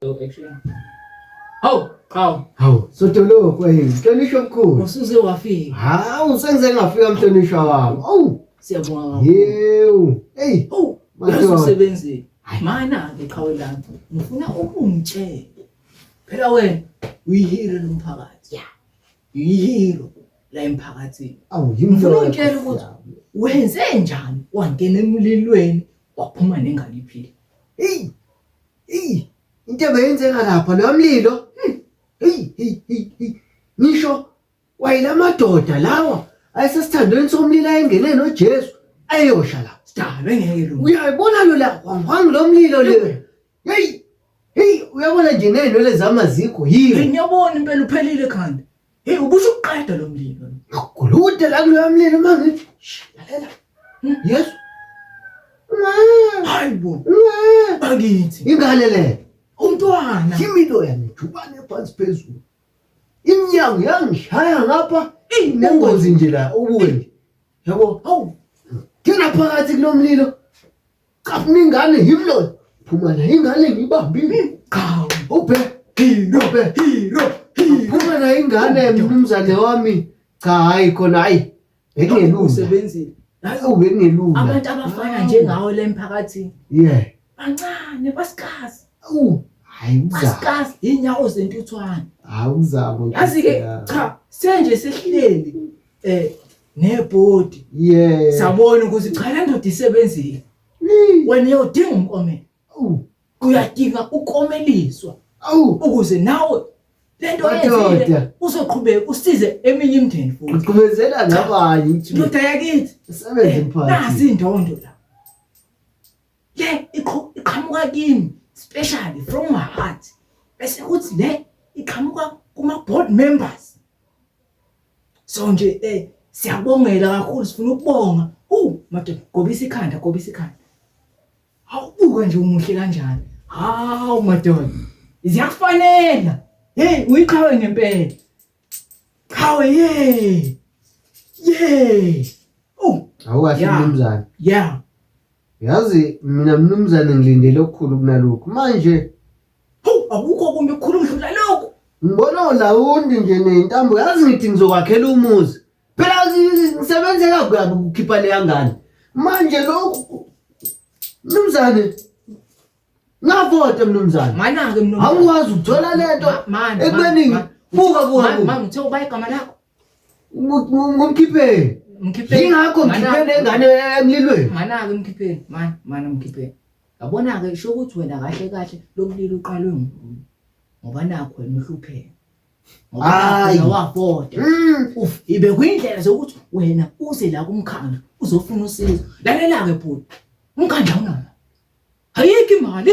So actually. Hawu, hawu. Hawu, sotoloko yini? Mhlonishwa mkhulu. Usuze wafika. Hawu, sengize ngafika mhlonishwa wami. Awu, Siyabonga kakhulu. yewu. Hey, Oh, Madoda. usebenzi. Mana ke qhawe lami. Ngifuna ukungitshela. Phela wena uyihero lomphakathi. Yeah. Uyihero la emphakathini. awu Ngifuna yimhlonishwa. ungitshele ukuthi wenze njani wangena emlilweni waphuma nengane iphila. Hey, Eyi into ebeyenzeka lapha loya mlilo. Hmm. Hey hey hey hey. Ngisho wayila madoda lawa ayesesithandweni somlilo ayengene noJesu ayosha la. Sidalwe ngeke lo. Uyayibona lo la wangu lo mlilo le. Hey hey uyabona nje nenwele zama zikho yini. Ngiyabona impela uphelile khanda. Hey ubusho uqeda lo mlilo. Ngakulude la kulo mlilo manje. Lalela. Hmm? Yes. Hayibo. Angithi. Ingane le. Umntwana. Imilo yami jubane phansi phezulu. Imnyango yangishaya ngapha inengozi nje la ubuye. Yabo. Hawu. Thina phakathi kulomlilo. Cha funa ingane yimi lona. Phuma la ingane ngibambile. Cha ubhe. Hero ubhe. Hero. Phuma la ingane mnumzane wami. Cha hayi khona hayi. Bekungelula. Usebenzile. Hayi ubengelula. Abantu abafana njengawe la emphakathini. Yeah. Bancane basikazi. Awu. Hayi uzama. Basikazi inyawo zentuthwane. Hayi uzama. Yazi ke cha senje sehleli. eh nebhodi yeah sabona ukuthi cha le ndoda isebenzile wena uyodinga umkomelo uyadinga ukomeliswa awu ukuze nawe lento yenzile uzoqhubeka usize eminye imndeni futhi uqhubezela nabanye ukuthi ndoda yakithi sebenze eh, mphathi nasi indondo la le iqhamuka kimi especially from my heart bese kuthi le iqhamuka kuma board members So nje eh siyabongela kakhulu sifuna ukubonga. Uh madoda gobisa ikhanda gobisa ikhanda. Awubuka nje umuhle kanjani. Hawu madoda. Ziyakufanela. Hey uyiqhawe ngempela. Qhawe hey. Yey. Oh, awukahle Yeah. mnumzane. Yeah. Yazi mina mnumzane ngilindele okukhulu kunalokhu. Manje Hawu akukho kumbi kukhulu umdlula lokhu. Ngibona ulawundi nje nentambo yazi ngithi ngizokwakhela umuzi. Phela ngisebenze kabi ukukhipha leya ngane. Manje lokhu Mnumzane ngavota mnumzane. Mana ke mnumzane. Awukwazi ukuthola lento ekubeni buka buka. Mama ngithe ubayigama lakho. Ngomkhipheni. Mkhipheni. Yingakho mkhipheni engane emlilweni. Manake mkhipheni, man, man mkhipheni. Yabona ke sho ukuthi wena kahle kahle lobulili uqalwe nguwe. Ngoba nakho wena uhlupheka. Hayi wabhoda. Mm. Uf ibe kuyindlela zokuthi wena uze la kumkhandlu uzofuna usizo. Lalela ke bhuti. Umkhandlu awunalo. Ayikho imali.